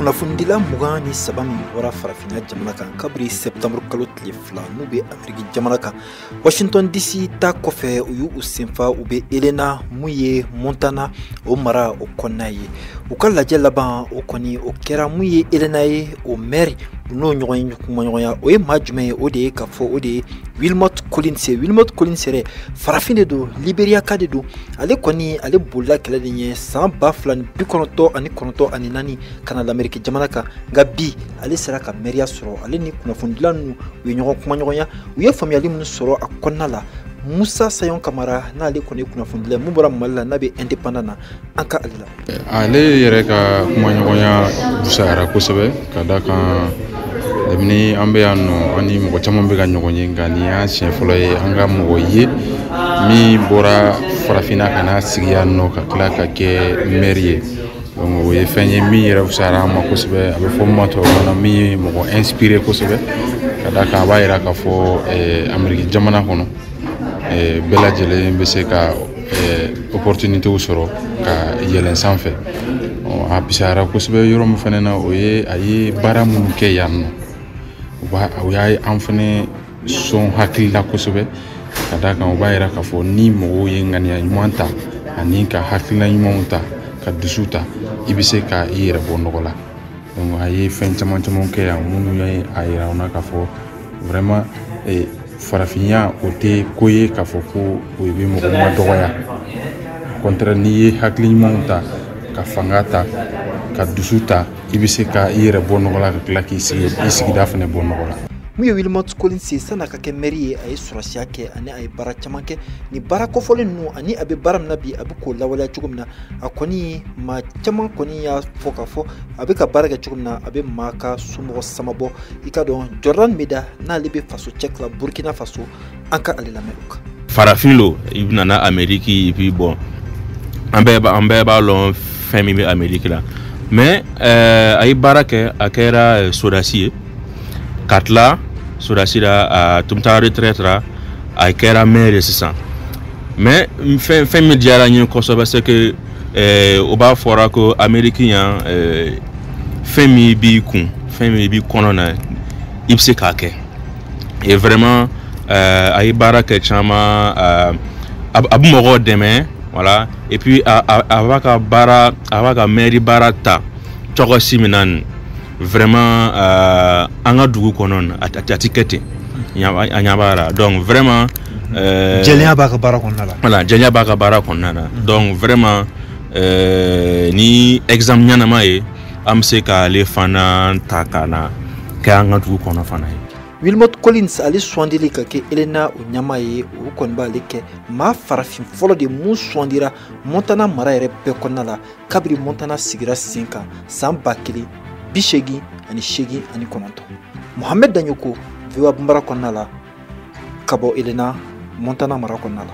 kunnafonidila mugan ni saba min bɔra farafinna jamana kan kabiri sɛptanburukalo tile fila n'u be ameriki jamana kan washington dc ta kɔfɛ u y'u senfa u bɛ helena mun ye montana o mara o kɔnɔna ye u ka lajɛ laban o kɔni o kɛra mun ye helena ye o mɛri u n'o ɲɔgɔn ye kumaɲɔgɔnya o ye maa jumɛn ye o de ye k'a fɔ o de ye wilmot collins ye wilmot collins yɛrɛ farafin de don liberia ka de don ale kɔni ale bolila kɛlɛ de ɲɛ san ba fila ni bi kɔnɔntɔ ani kɔnɔntɔ ani naani ka na lameriki jamana kan nka bi ale sera ka mɛriya sɔrɔ ale ni kunnafonidila ninnu u ye ɲɔgɔn kumaɲɔgɔnya u ye faamuyali minnu sɔrɔ a kɔnɔna la musa sayon kamara n'ale kɔni ye kunnafonidila ye mun bɔra mali la n'a bɛ indépendant na an ka ale la ale yɛrɛ ka kumaɲɔgɔnya fusayara kosɛbɛ ka d'a kan kabini an bɛ yan nɔ an ni mɔgɔ caman bɛ ka ɲɔgɔn ye nka nin y'a siɲɛ fɔlɔ ye an ka mɔgɔ ye min bɔra farafinna ka n'a sigi yan nɔ ka tila ka kɛ mɛri ye donc o ye fɛn ye min yɛrɛ fisayara an ma kosɛbɛ a bɛ fɔ min ma tubabukan na min ye mɔgɔ inspiré kosɛbɛ ka d'a kan a b'a yira k'a fɔ eh, ameriki jamana kɔnɔ eh, bɛɛ lajɛlen bɛ se ka eh, opportunitéw sɔrɔ ka yɛlɛn sanfɛ a fisayara kosɛbɛ yɔrɔ min fana na o ye a ye baara minnu kɛ yan nɔ o y'an fana sɔn hakili la kosɛbɛ ka d'a kan o b'a yira k'a fɔ ni mɔgɔw ye ŋaniya ɲuman ta ani ka hakilina ɲumanw ta ka dusu ta i bɛ se ka i yɛrɛ bɔ nɔgɔ la donc a ye fɛn caman caman kɛ yan minnu ye a yira anw na k'a fɔ vraiment eh, farafinya o tɛ ko ye k'a fɔ ko o bɛ mɔgɔ madɔgɔya contraire n'i ye hakili ɲumanw ta ka fanga ta ka dusu ta i bɛ se ka i yɛrɛ bɔ nɔgɔ la ka tila k'i sigi i sigida fana bɔ nɔgɔ la min ye wilmot collins ye san'a ka kɛ mɛri ye a ye sɔrɔdasiya kɛ ani a ye baara caman kɛ nin baara kofɔlen ninnu ani a bɛ baara min na bi a bɛ k'o lawaleya cogo min na a kɔni maa caman kɔni y'a fɔ k'a fɔ a bɛ ka baara kɛ cogo min na a bɛ maa ka somɔgɔ samabɔ i ka dɔn jordan meda n'ale bɛ fasocheck la burukina faso an ka ale lamɛn o kan farafin lo i nana ameriki et puis bon an bɛɛ b'a an bɛɛ b'a lɔn fɛn min bɛ ameriki la mais a ye baara kɛ a kɛra sodasi ye ka tila sodasi la a tun taara retraite la a kɛra maire ye sisan mais fɛn fɛn min diyara n ye kosɛbɛ c'est que o b'a fɔra ko ameriki yan fɛn min b'i kun fɛn min b'i kɔnɔ na i bɛ se k'a kɛ et vraiment euh, a ye baara kɛ caman euh, a a bɛ mɔgɔw dɛmɛ voilà et puis a a a b'a ka baara a b'a ka mairie baara ta cogo si min na nin vraiment euh, an ka dugu kɔnɔ nin a tɛ a tɛ kɛ ten a ɲɛ b'a la donc vraiment. Euh, jɛlenya b'a ka baara kɔnɔna la. voilà jɛlenya b'a ka baara kɔnɔna na donc vraiment euh, ni exemple ɲɛnama ye. an bɛ se k'ale fana ta ka na kɛ an ka dugu kɔnɔ fana ye wilmot collins ale sugandili ka kɛ helena o ɲɛmaa ye o kɔni b'ale kɛ maa farafin fɔlɔ de mun sugandira montana mara yɛrɛ bɛɛ kɔnɔna la kabiri montana sigira sen kan san ba kelen bi seegin ani seegin ani kɔnɔntɔn mohamɛd daɲoko voa bambara kɔnɔna la ka bɔ helena montana mara kɔnɔna la